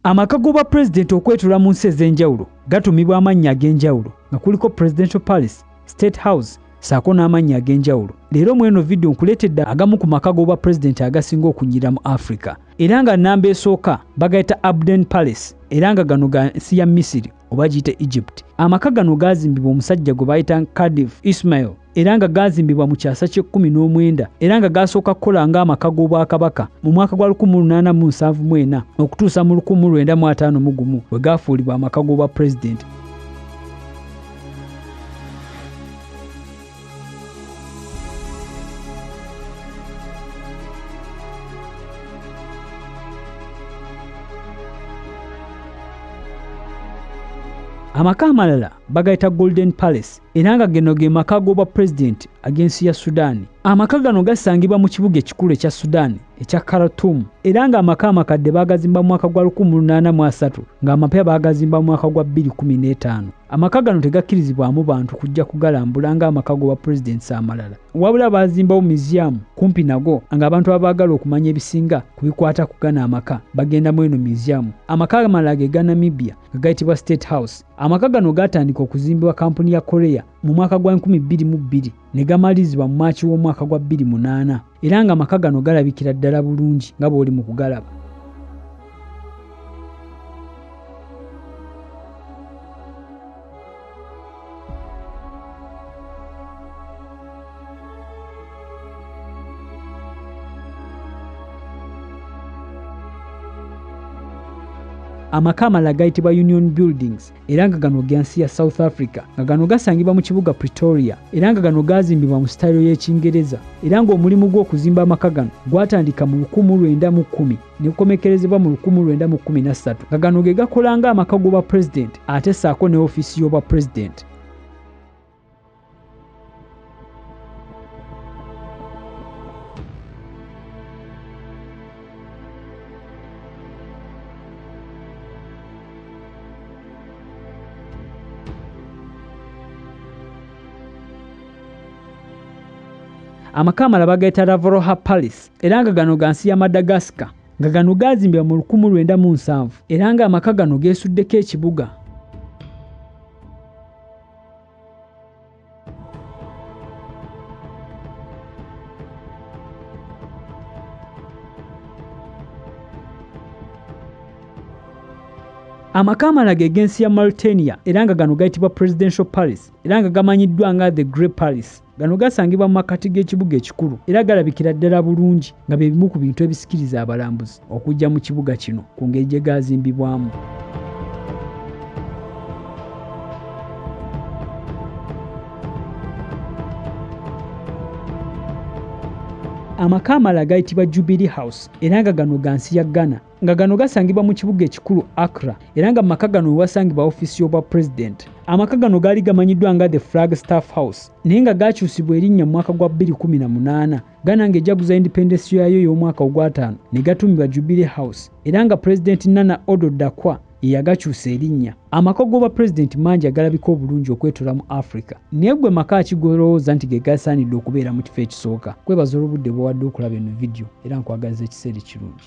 Amaka g'obwa pulezidenti okwetula mu nsi ez'enjawulo gatuumibwa amannya ag'enjawulo nga kuliko Presidential Palace, State House ssaako n'amannya ag'enjawulo. Leero mu eno vidiyo nkuleetedde agamu ku maka g'obwa pulezidenti agasinga okunyirira mu Afrika era nga nnamba esooka bagayita Abden Palace era nga gano ga nsi ya Misiri. oba giyite egypt amaka gano gaazimbibwa omusajja gwe bayita cardiff ismail era nga gaazimbibwa mu kyasa ky'ekkumi n'omwenda era nga gaasooka kukola ng'amaka g'obwakabaka mu mwaka gwa 1874 okutuusa mu 1951 bwe gaafuulibwa amaka g'obwa pulezidenti amaka amalala bagayita golden palace era nga geno ge maka g'obwa pulezidenti ag'ensi ya sudaani amaka gano gasangibwa mu kibuga ekikulu ekya sudaani ekya karatum era ng'amaka amakadde baagazimba mu mwaka gwa 18 ng'amapya baagazimba mu mwaka gwa 215 Amaka gano tegakkirizibwamu bantu kujja kugalambula ng'amaka g'obwa pulezidenti amalala, wabula baazimbawo myuziyamu kumpi nago ng'abantu abaagala okumanya ebisinga ku bikwata ku gano amaka bagenda mu eno myuziyamu. Amaka amalala ge ga Namibia nga gayitibwa State House. Amaka gano gaatandika okuzimbibwa kkampuni ya Korea mu mwaka gwa enkumi bbiri mu bbiri. ne gamalirizibwa mu Maaki w'omwaka gwa 2008 era nga maka gano galabikira ddala bulungi nga bw'oli mu kugalaba. amaka amalala gayitibwa union buildings era nga gano ga nsi ya south africa nga gano gasangibwa mu kibuga pretoria era nga gano gaazimbibwa mu sitayiro y'ekingereza era ng'omulimu gw'okuzimba amaka gano gwatandika mu 1910 ne gukomekkerezebwa mu 1913 nga gano ge gakola ng'amaka g'obwa pulezidenti ate ssaako ne ofiisi y'obwa pulezidenti amaka amala bagayita ravoroha palace era nga gano ga nsi ya madagascar nga gano gaazimbibwa mu 1907 era ng'amaka gano geesuddeko ekibuga amaka amalage eg'ensi ya mauritania era nga gano gayitibwa presidential paris era nga gamanyiddwa nga the grey paris Gano gasangibwa mu makkati g'ekibuga ekikulu era galabikira ddala bulungi nga bye bimu ku bintu ebisikiriza abalambuzi okujja mu kibuga kino ku ngeri gye gaazimbibwamu. Amaka amalala gayitibwa Jubilee House era nga gano ga nsi ya Ghana. nga gano gasangibwa mu kibuga ekikulu Accra era nga mu maka gano we wasangibwa ofiisi y'obwa pulezidenti. Amaka gano gaali gamanyiddwa nga the Flag Staff House naye nga gaakyusibwa erinnya mu mwaka gwa 2018 Ghana ng'ejjaguza indipendesi yaayo ey'omwaka ogwataano ne gatuumibwa Jubilee House era nga pulezidenti Nana Odo Dakwa ye yagakyusa erinnya. Amaka g'obwa pulezidenti mangi agalabika obulungi okwetoola mu Afrika naye gwe maka ki g'olowooza nti ge gasaanidde okubeera mu kifo ekisooka? Kwebaza olw'obudde bw'owadde okulaba eno vidiyo era nkwagaliza ekiseera ekirungi.